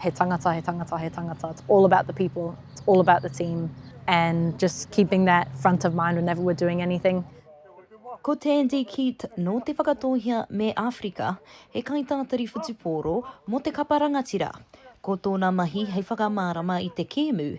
He tangata, he tangata, he tangata. It's all about the people, it's all about the team and just keeping that front of mind whenever we're doing anything. Ko Tandy Keat nō Te Whakatōhea me Āwherika, he kaitātari whutupōro mō te kapa rangatira. Ko tōna mahi hei whakamārama i te kēmu,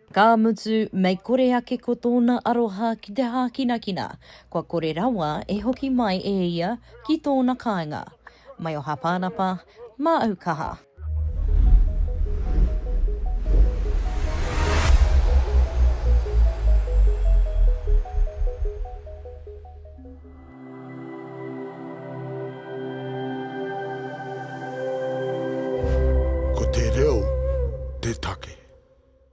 Ka mutu, mei kore ake ko tōna aroha ki te hākinakina, kua kore rawa e hoki mai e ia ki tōna kāinga. Mai o Hāpānapa, mā au kaha. Ko te reo te take.